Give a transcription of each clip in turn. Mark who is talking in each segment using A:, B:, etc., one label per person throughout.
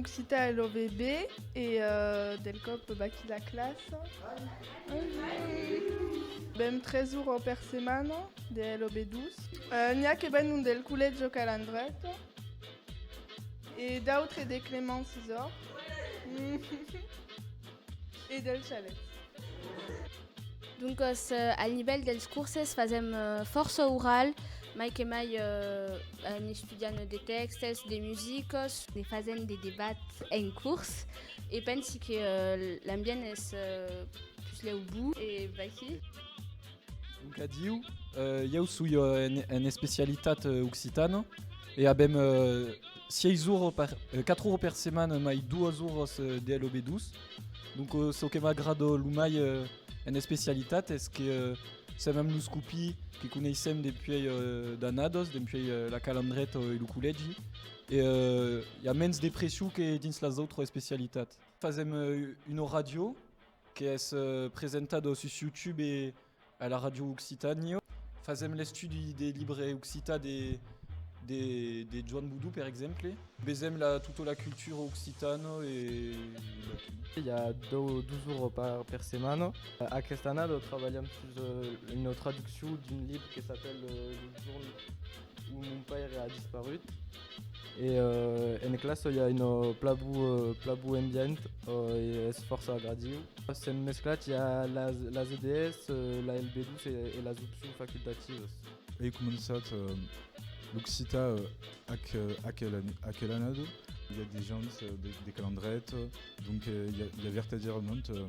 A: Occitan LOVB et euh, del cop Baki la classe. Bem 3 jours per setmana de LOB 12. Euh, N'hi ha que ben un del Collège Calandret et d'autres de Clément César. E dels chalets.
B: Doncas, al nivèl dels curses fasèm fòrça oral, mai que mai en estudiant de tèxtes, de musicas, e fasent de debats en curs e pensi que l'ambient es puslèu bou e vaquí.
C: Doncas adiu, ieu soi en especialitat occitana e avèm. 6 oro per 4 oro per setmana mai 2 oros de LOB2 donc ce que m'agrada lo mai en especialitat es que se mèm los copi que coneissèm dempuèi d'annadas dempuèi la calandreta e lo collègi e i a mens de pression que dins las autras especialitats fasèm una ràdio qu'es presentada sus youtube e A la Ràdio Occitània fasèm l'estudi de libre occitan de Joan Boudou, per exemple. Vesèm tota la cultura occitana e latina.
D: I a dos ora per setmana. Aquesta annada trabalham sus una traduccion d'un libre que s'apèla Lo jorn ont mon paire a disparut. E euh, en classa i a un euh, pla bu, euh, pla bu ambient euh, e es fòrça agradiu. S'en mesclat i a las, las EDS, euh, la LB2 e, e las opcions facultativas. Ei començat
E: euh, l'occità euh, aquel, aquel, aquel annada. I a de gens euh, de, de Calandret. Donc il euh, y, y, a vertadierament euh,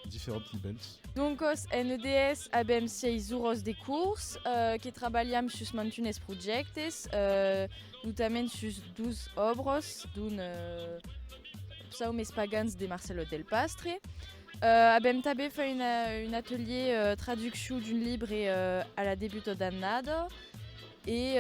E: diferents nivèls. Donc os
F: NDS abem seis uros de curs euh, que trabalham sus mantunes projectes, euh, notament sus dos obros d'un euh, psaumes espagans de Marcelo del Pastre. Euh, abem també fait une, un atelier euh, traducció d'un libre euh, a la debuta d'annada, E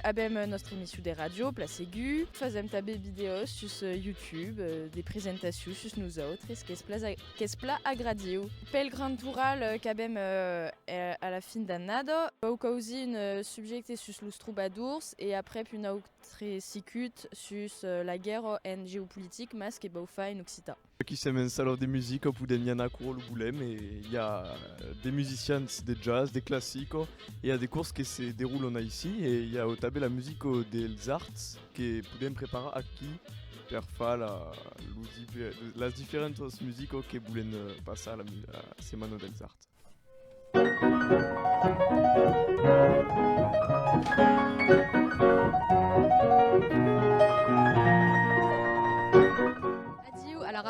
F: avèm nòstra emissiu de ràdio, Pla Segu. Fasèm tanben vidèos sus YouTube, de presentaciu sus nosautres, qu'es pla agradiu. Pel grand toral qu'avèm a la fin d'annada, quauquausi un subjècte sus los trobadors e aprèp un autre sicut sus la guèrra en geopolitic, mas que vau far en occitan. Aquí sèm en Salon
G: de Musica, podèm i anar quau volèm e i a de musicians de jazz, de classico, i a de cors que se derolon aicí e i a tanben la musica dels arts que podèm preparar aquí per far las diferentas musicas que volèn passar la setmana dels arts.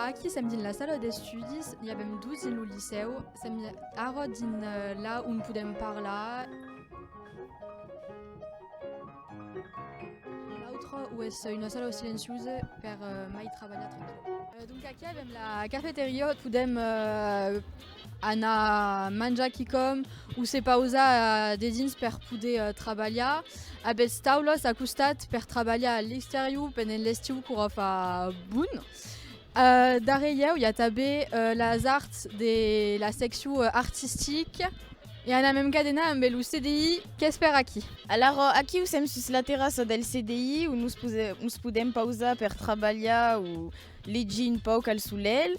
H: aquí sèm dins la sala d'estudis, n'hi avèm dus dins lo licèu, sèm ara dins euh, là on podem parlar. L'autre, où est une sala silencieuse per euh, mai trabalhar tranquil. Euh, donc aquí avèm la cafeteria, podem euh, anar manjar quicòm o se pausar dedins per poder trabalhar. Avètz taulas a costat per trabalhar a l'exterior pendent l'estiu qu'ora fa bon. Darrèr ieu i a tanben las arts de la seccion artistica e anam en cadena ambe lo CDI qu'es per aquí. Alara, aquiu
F: sèm sus la terrassa del CDI o nos podèm pausar per trabalhar o Legi un pauc al solelh.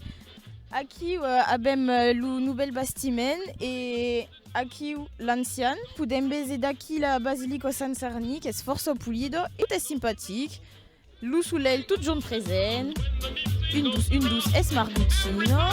F: Aquiu avèm lo novèl bastiment e aquiu l'ancian. Podèm veser d'aquí la basilica Sant Sarni qu'es fòrça polida e tot es simpatic. Lo solelh totjorn present. Un dos, un dos, es Marguchina.